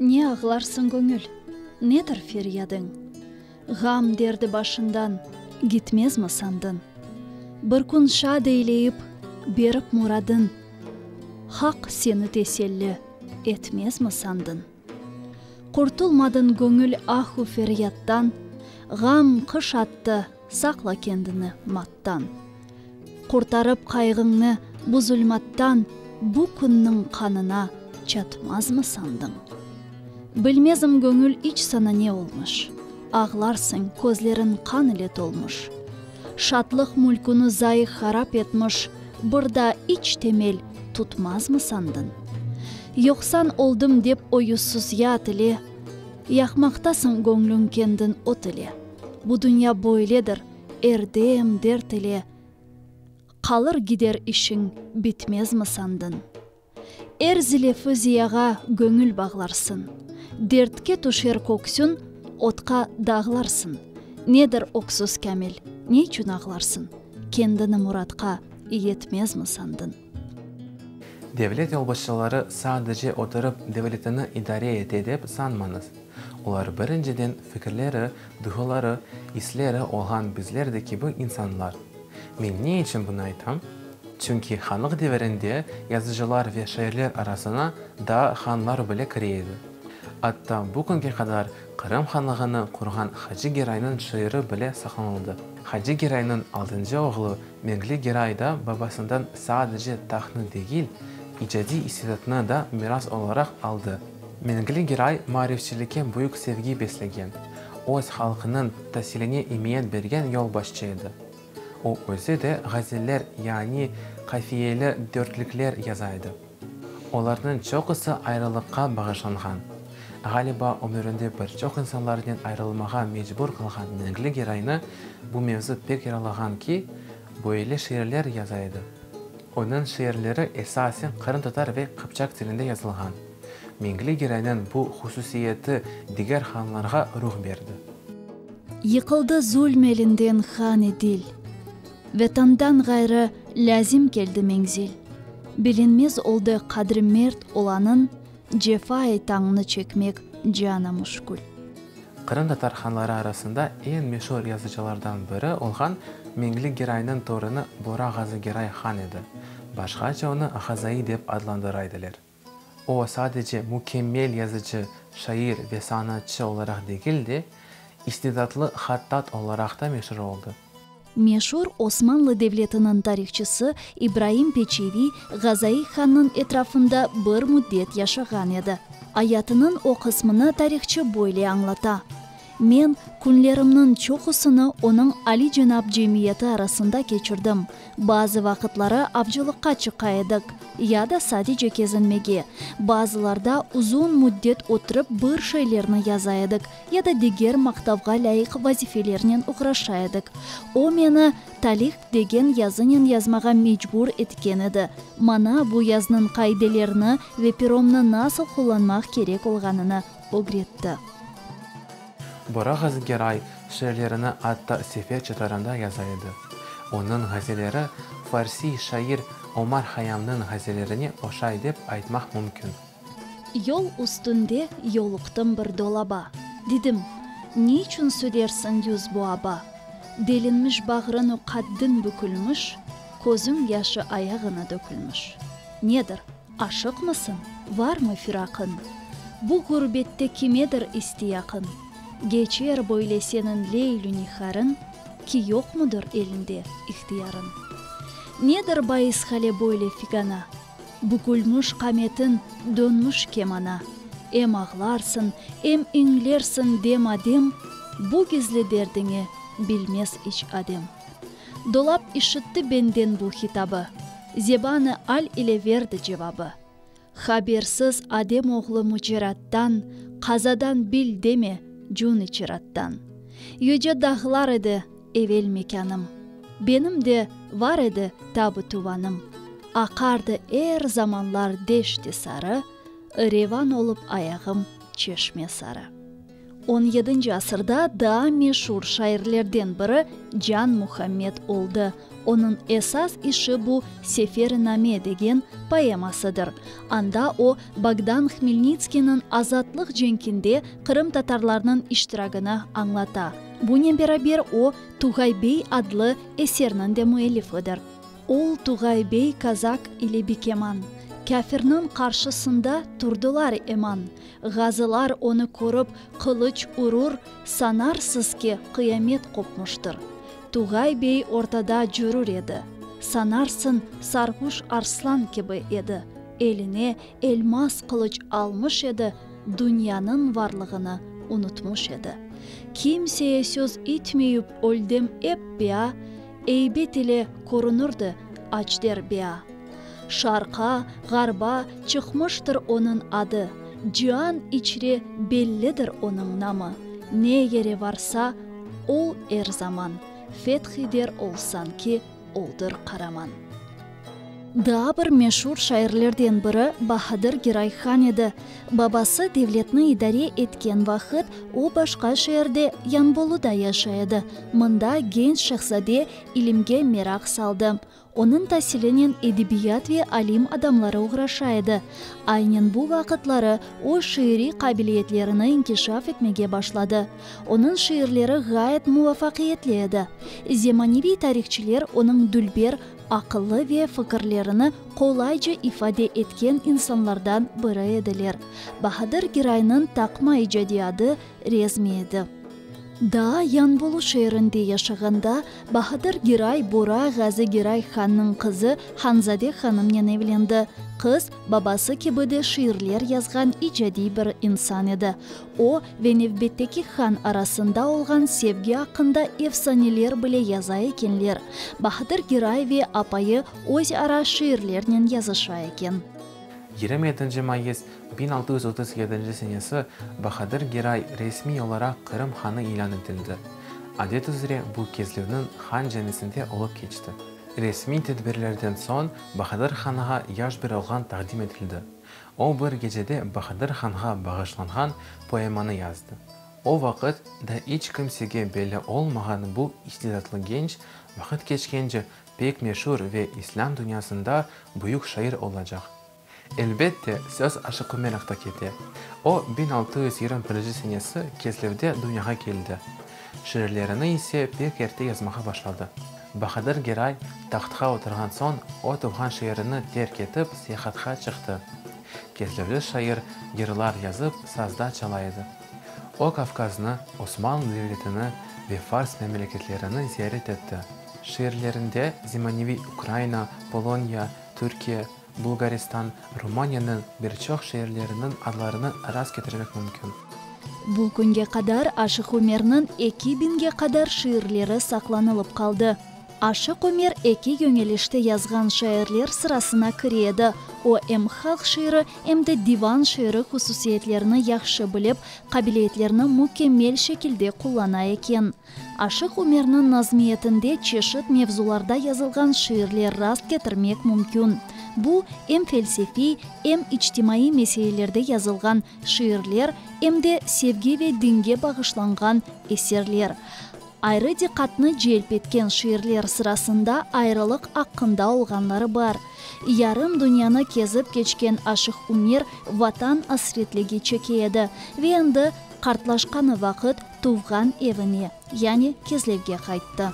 Ne ağlarsıñ, göñül? Nedir feryadıñ? Ğam derdi başından gitmezmi sandın? Bir kün şad eyleyip, berip muradın, Haq seni teselli etmezmi sandın? Qurtulmadın, göñül, ahu feryattan, Ğam qış attı, saqla kendini mattan. qattan. Qurtarıp qayğıñnı bu zulmattan, Bu künniñ qanına çatmazmı sandıñ? Bilmezim göñül iç saña ne olmuş, Ağlarsıñ, közleriñ qan ile tolmuş. Şatlıq mülküni zayı harap etmiş Bir da iç temel tutmazmı sandıñ? Yoqsan oldım dep o yüzsüz yat ile, Yaqmaqtasıñ göñlüñ kendin ot ile. Bu dünya böyledir. Er dem dert ile qalır gider işiñ bitmezmi sandın? Er zilefi ziyağa göñül bağlarsın, dertke tüşer köksün otqa dağlarsın, nedir öksüz Kamil, ne içün ağlarsın, kendini muratqa yetmezmi sandın? Devlet yolbaşçıları sadece oturıp devletini idare ete dep sanmañız. Olar birinciden fikirleri, duyğuları, isleri olğan bizler de kibi insanlar. Men ne içün bunı aytam? Çünki hanlıq devirinde yazıcılar ve şairler arasına daa hanlar bile kire edi. Atta bu künge qadar Qırım hanlığını qurğan Hacı Geraynıñ şiiri bile saqlanıldı. Hacı Geraynıñ altıncı oğlu Menkli Geray da babasından sadece tahtnı degil, icadiy istedatnı da miras olaraq aldı. Menkli Geray marifçilikke büyük sevgi beslegen, öz halqınıñ tasiline imiyet bergen yolbaşçı edi. O özü de ğazeller, yani qafiyeli dörtlükler yazaydı. Olarnıñ çoqusı ayrılıqqa bağışlanğan. Ğaliba, ömürinde bir çoq insanlarnen ayrılmağa mecbur qalğan Menkli Geraynı bu mevzu pek yaralağan ki, böyle şiirler yaza edi. Onıñ şiirleri esasen qırımtatar ve qıpçaq tilinde yazılğan. Menkli Geraynıñ bu hususiyeti diger hanlarğa ruh berdi. Yıqıldı zulm elinden han Edil. Vetandan ğayrı lâzim keldi menzil. Bilinmez oldı qadri mert olanıñ, Cefai tañnı çekmek cana müşkül. Qırımtatar hanları arasında eñ meşur yazıcılardan biri olğan Meñli Geraynıñ torunı Bora Ğazı Geray han edi. Başqaça onı Ğazai dep adlandıra ediler. O, sadece mükemmel yazıcı, şair ve sanatçı olaraq degil de, istidatlı hattat olaraq da meşur oldı. Meşur Osmanlı devletiniñ tarihçısı İbraim Peçeviy Gazaiy hannıñ etrafında bir müddet yaşağan edi. Ayatınıñ o qısmını tarihçı böyle añlata. Men künlerimniñ çoqusını onıñ alicenap cemiyeti arasında keçirdim. Bazı vaqıtları avcılıqqa çıqa edik, ya da sadece kezinmege. Bazılarda uzun müddet oturıp bir şeylerni yaza edik, ya da diger maqtavğa lâyıq vazifelernen oğraşa edik. O meni Talih degen yazınen yazmağa mecbur etken edi, maña bu yaznıñ qaidelerini ve peromnı nasıl qullanmaq kerek olğanını ögretti. Bora Ğazıgeray şiirlerini atta sefer çatarında yaza edi. Onıñ ğazeleri farsiy şair Omar Hayamnıñ ğazellerine oşay dep aytmaq mümkün. Yol üstünde yoluqtım bir dolaba, Dedim, ne içün södersiñ yüz bu aba? Delinmiş bağrıñu qaddiñ bükülmiş, Közüñ yaşı ayağıña dökülmiş. Nedir? Aşıqmısıñ, varmı firaqıñ? Bu ğurbette kimedir istiyaqıñ? Geçer böyle seniñ leylü niharıñ, Ki yoqmıdır elinde ihtiyarıñ? Nedir bais hale böyle figana? Bükülmüş qametiñ, dönmüş kemana. Em ağlarsıñ, em iñlersiñ dem-adem, Bu gizli derdiñi bilmez iç adem. Dolap işitti benden bu hitabı, Zeban-ı al ile verdi cevabı. Habersiz Adem oğlu mücerattan, Qazadan bil deme, cün içirattan. Yüce dağlar edi evel mekânım, Benim de var edi tab-ı tuvanım. Aqardı er zamanlar deşt-i sarı, Revan olıp ayağım çeşme sarı. On yedinci asırda daa meşur şairlerden biri Can Muhammed oldı. Onıñ esas işi bu Seferi-name degen poemasıdır. Anda o, Bogdan Hmelnitskiyniñ azatlıq cenkinde qırımtatarlarnıñ iştiragini añlata. Bunen beraber o, Tugay bey adlı eserniñ de müellifidir. Ol Tugay bey kazak ile bikeman, Kâfirniñ qarşısında turdılar eman, Ğazılar onı körip, qılıç urur, sanarsız ki, qıyamet qopmıştır. Tugay bey ortada cürür edi, sanarsın, sarğuş arslan kibi edi, eline elmas qılıç almış edi, dünyanıñ varlığını unutmış edi. Kimseye söz itmeyüp öldem ep ya, Eybet ile körünirdi aç derbia. Şarqa, ğarba çıqmıştır onıñ adı, Cian içre bellidir onıñ namı. Ne yere varsa, ol er zaman, Feth eder ol sanki oldır qaraman. Daa bir meşur şairlerden biri Bahadır Giray Han edi. Babası devletni idare etken vaqıt o başqa şeerde, Yanboluda yaşay edi. Mında genç şehzade ilimge meraq saldı. Onıñ tasilinen edebiyat ve alim adamları oğraşa edi. Aynen bu vaqıtları o şiiriy qabiliyetlerini inkişaf etmege başladı. Onıñ şiirleri ğayet muvafaqiyetli edi. Zemaneviy tarihçiler onıñ dülber, aqıllı ve fikirlerini qolayca ifade etken insanlardan biri ediler. Bahadır Giraynıñ taqma icadiy adı Rezmi edi. Daa Yanbolu şeerinde yaşağanda, Bahadır Giray Bura Ğazi Giray hannıñ qızı Hanzade hanımnen evlendi. Qız, babası kibi de şiirler yazğan icadiy bir insan edi. O ve nevbetteki han arasında olğan sevgi aqqında efsaneler bile yaza ekenler. Bahadır Giray ve apayı öz ara şiirlernen yazışa eken. Yirmi etinci mayıs biñ altı yüz otuz yedinci senesi Bahadır Giray resmiy olaraq Qırım hanı ilân etildi. Adet üzre bu Kezlüvniñ han camisinde olıp keçti. Resmiy tedbirlerden soñ Bahadır hanğa yaş bir oğlan taqdim etildi. O bir gecede Bahadır hanğa bağışlanğan poemanı yazdı. O vaqıt da iç kimsege belli olmağan bu istidatlı genç, vaqıt keçkence pek meşur ve islâm dünyasında büyük şair olacaq. Elbette, söz Aşıqu Meraqta kete. O, biñ altı yüz yirmi birinci senesi Keslevde dünyağa keldi. Şiirlerini ise pek erte yazmağa başladı. Bahadır Geray tahtqa oturğan soñ o tuvğan şeerini terk etip seyahatqa çıqtı. Kerkevli şair yırlar yazıp sazda çala edi. O Kavkaznı, Osmanlı devletini ve Fars memleketlerini ziyaret etti. Şiirlerinde zemaneviy Ukraina, Poloniya, Türkiye, Bulğaristan, Rumaniyeniñ bir çoq şeerleriniñ adlarını rast ketirmek mümkün. Bu künge qadar Aşıq Ömerniñ eki biñge qadar şiirleri saqlanılıp qaldı. Aşıq Ömer eki yöñelişte yazğan şairler sırasına kire edi, o em halq şiiri, em de divan şiiri hususiyetlerini yahşı bilip, qabiliyetlerini mükemmel şekilde qullana eken. Aşıq Ümerniñ nazmiyetinde çeşit mevzularda yazılğan şiirler rast ketirmek mümkün. Bu, em felsefiy, em içtimaiy meselelerde yazılğan şiirler, em de sevgi ve dinge bağışlanğan eserler. Ayrı diqqatnı celp etken şiirler sırasında ayrılıq aqqında olğanları bar. Yarım dünyanı kezip keçken Aşıq Ümer Vatan asretligi çeke edi ve endi qartlaşqanı vaqıt, tuvğan evine, yani Kezlevge qayttı.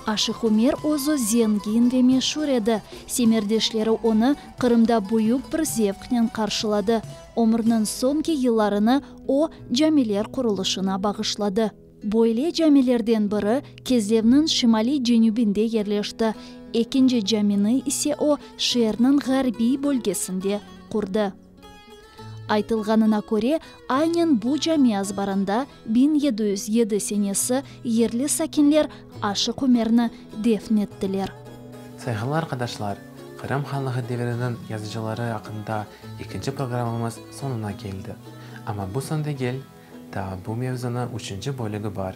Aşıq Ümer özü zengin ve meşur edi, semerdeşleri onı Qırımda büyük bir zevqnen qarşıladı. Ömrüniñ soñki yıllarını o, camiler qurulışına bağışladı. Böyle camilerden biri Kezlevniñ şimaliy-cenübinde yerleşti, ekinci camini ise o, şeerniñ ğarbiy bölgesinde qurdı. Aytılğanına köre, aynen bu cami azbarında biñ yedi yüz yedi senesi yerli sakinler Aşıq Ümerni defn ettiler. Sayğılı arqadaşlar, Qırım Hanlığı deviriniñ yazıcıları aqqında ekinci programımız soñuna keldi. Amma bu soñ degil, daa bu mevzunıñ üçünci bölügi bar.